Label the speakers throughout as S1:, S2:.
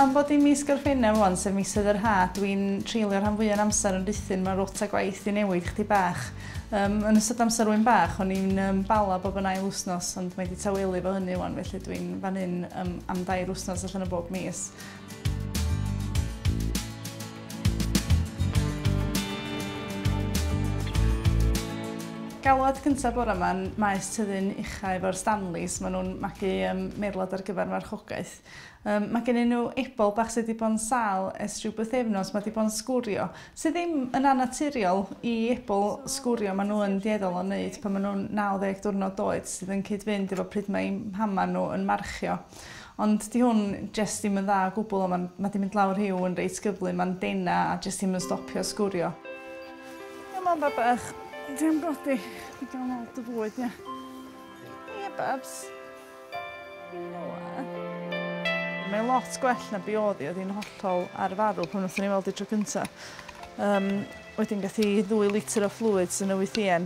S1: Am bod hi'n mis Gorffennaf ŵan, sef misoedd yr ha', dwi'n treulio rhan fwya' o'n amser yn rhuthun mewn rota gwaith i newid chdi bach. Um, yn ystod amser wyn bach, o'n i'n um, bala bob yn ail wsnos, ond mae wedi tawelu fo hynny ŵan, felly dwi'n fan hyn um, am dair wsnos allan o bob mis. Galwad cyntaf bore yma yn Maes Tyddyn Uchaf efo'r Stanleys. Maen nhw'n magu um, meirlad ar gyfer marchogaeth. Um, mae gen nhw ebol bach sydd wedi bod yn sal ers rhyw byth efnos, mae wedi bod yn sgwrio. Sydd ddim yn anaturiol i ebol sgwrio, maen nhw yn dieddol o wneud pan maen nhw'n 90 diwrnod oed sydd yn cyd-fynd efo pryd mae mhama nhw yn marchio. Ond 'di hwn jyst ddim yn dda o gwbwl a ma'n ma' 'di mynd lawr rhiw yn reit gyflym ma'n dena a jyst ddim yn stopio sgwrio. Come on babach. Cefn godi. Ti ga'l nôl dy fwyd ie? Ie babs. Mae lot gwell na be odd 'i oedd hi'n hollol ar farw pan nathon ni weld 'i tro cynta. Yym wedyn gath 'i ddwy litr o fluids yn y wythïen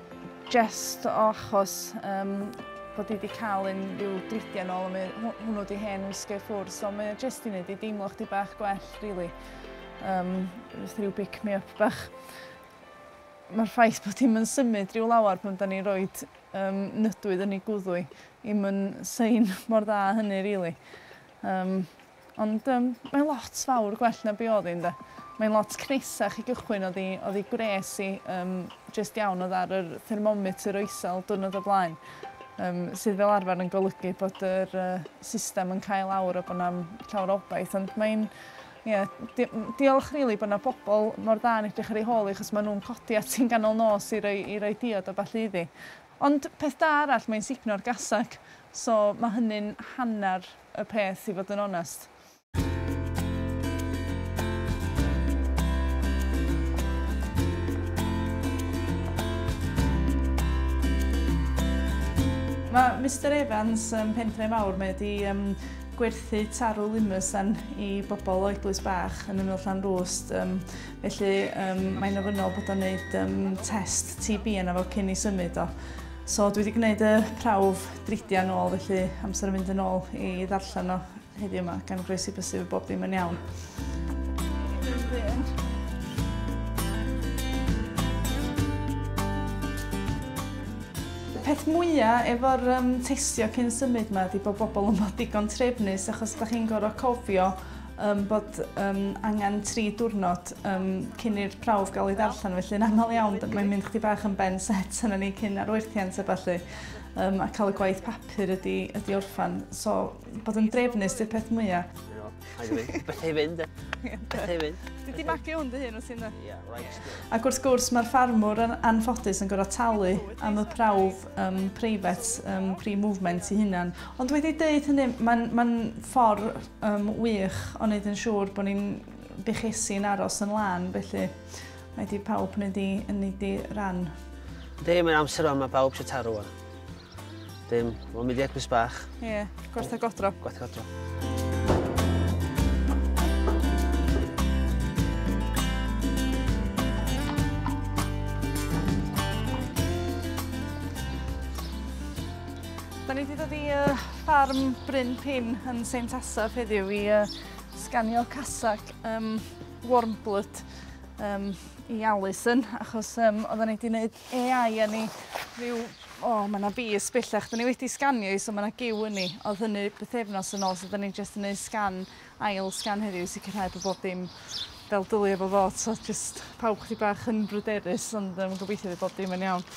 S1: Jest o achos yym bod hi 'di cael un ryw dridiau nôl a mae hw- hwnnw 'di hen wisgo i ffwrdd so mae o jest i neud i deimlo chdi bach gwell rili. Yym jyst ryw pick me up bach. Mae'r ffaith bod hi'm yn symud ryw lawer pan 'dan ni'n roid yym nydwydd yn ei gwddw hi 'im yn sign mor dda â hynny rili. Yym. Ond yym mae lot fawr gwell na be odd 'i ynde? Mae'n lot cneisach i gychwyn odd 'i odd 'i gwres i yym jyst iawn odd ar yr thermometer o isel diwrnod o blaen yym sydd fel arfer yn golygu bod yr yy system yn cael awr a bo' 'na'm llawer o obaith ond mae'n ie di- m- diolch rili bo' 'na bobol mor dda yn edrych ar ei hôl 'i achos ma' nw'n codi ati'n ganol nos i roi i roi diod a ballu iddi. Ond peth da arall mae'n sugno'r gasac so ma' hynny'n hannar y peth i fod yn onest. Mae Mister Evans yn Pentre Fawr, mae wedi um, gwerthu tarw limusan i bobl o eglwys bach yn ymyl llan rwst. Um, felly um, mae'n ofynnol bod o'n gwneud um, test TB yna fo cyn i symud o. So dwi wedi gwneud y prawf Dridia yn ôl felly amser yn mynd yn ôl i ddarllen o heddiw yma gan groesi bysif y bob dim yn iawn. peth mwyaf efo'r um, testio cyn symud yma ydy bod bobl yn bod digon trefnus achos da chi'n gorfod cofio um, bod um, angen tri diwrnod um, cyn i'r prawf gael ei ddarllen felly yn aml iawn mae'n mynd chdi bach yn ben set yna ni cyn arwerthiant a falle Um, a cael y gwaith papur ydy, ydy orffan. So, bod yn drefnus di'r peth mwyaf. Beth
S2: ei fynd, e? Beth ei fynd. Dwi di magu hwn dy hyn
S1: o sy'n Ac wrth gwrs, mae'r ffarmwr yn anffodus yn gorau talu am y prawf um, preifet, um, pre-movement i hunan. Ond wedi dweud hynny, mae'n ma ffordd um, wych o wneud yn siŵr bod ni'n buchesu'n aros yn lan, felly Mae di pawb neu di yn neud di ran. Dim yn
S2: amser yma, mae pawb sy'n taro o'n. Dim, mae'n mynd i egwys bach. Ie, yeah, gwertha
S1: godro. Gwertha godro. Da ni wedi dod i uh, ffarm Bryn Pin yn Seint Asaf heddiw i uh, sganio casac. Um, Warmblood um, i Alison, achos um, oedden ni wedi gwneud AI yn ni rhyw... O, oh, mae yna fus bellach. Dyn ni wedi sganio i, so mae yna gyw yn ni. Oedd hynny bythefnos yn ôl, so dyn ni jyst yn gwneud sgan, ail sgan heddiw, sicrhau bod bob dim fel dylia fo fod. So jyst pawb chdi bach yn bryderus, ond um, gobeithio bod bob dim yn iawn.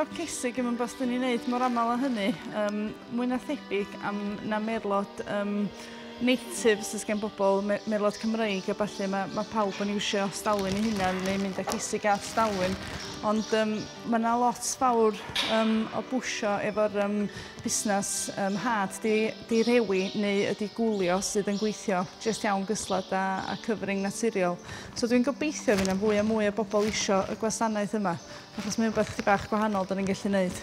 S1: o cesig yn ymwneud yn ei wneud mor aml o hynny. Um, mwy na thebyg am na merlod um, native sydd gen bobl, me merlod Cymreig a falle, mae ma pawb yn iwsio stalwyn i hunan neu mynd â cesig a stalwyn. Ond um, Mae yna lot fawr um, o bwysio efo'r um, busnes um, hard di, di rewi neu ydi gwlio sydd yn gweithio jyst iawn gyslad a, a cyfring naturiol. So dwi'n gobeithio fydd yna fwy a mwy o bobl isio y gwasanaeth yma, achos mae'n rhywbeth chydig bach gwahanol da ni'n gallu gwneud.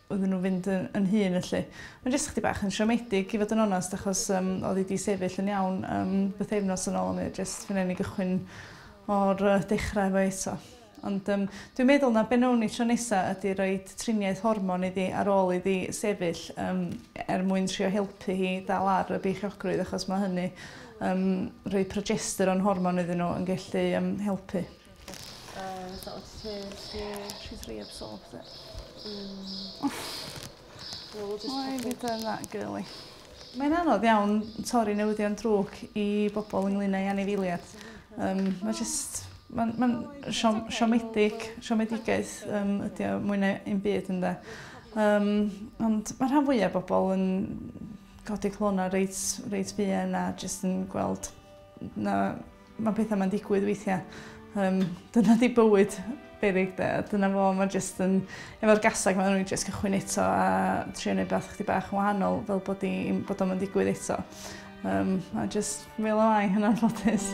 S1: iddyn nhw fynd yn, yn hun felly. Mae'n jyst chdi bach yn siomedig i fod yn onest achos um, oedd hi wedi sefyll yn iawn um, beth efnos yn ôl yn ei jyst fy ni gychwyn o'r uh, dechrau efo eto. Ond um, dwi'n meddwl na benawn ni tro nesa ydy roi triniaeth hormon iddi ar ôl iddi sefyll um, er mwyn trio helpu hi dal ar y beichiogrwydd achos mae hynny um, rhoi progesteron hormon iddyn nhw yn gallu um, helpu. Yy so o't
S3: ti ti... She's rhy absorbed there. Hmm.
S1: Wel we'll just check in. Done that girlie. Mae'n anodd iawn torri newyddion drwg i bobol ynglŷn â'i anifeiliad. Yym ma' jyst ma'n ma'n siom- siomedig siomedigaeth yym ydi o mwy na 'im byd ynde? Yym ond ma' rhan fwya bobol yn codi calona reit reit fuan a jyst yn gweld na Mae pethau mae'n digwydd weithiau. Um, dyna di bywyd berig de. Dyna fo, mae jyst yn... Efo'r gasag mae'n rwy'n jyst cychwyn eto a trio neud beth chdi bach yn wahanol fel bod, i, bod o'n digwydd eto. Um, a jyst fel o ai hynna'n ffodus.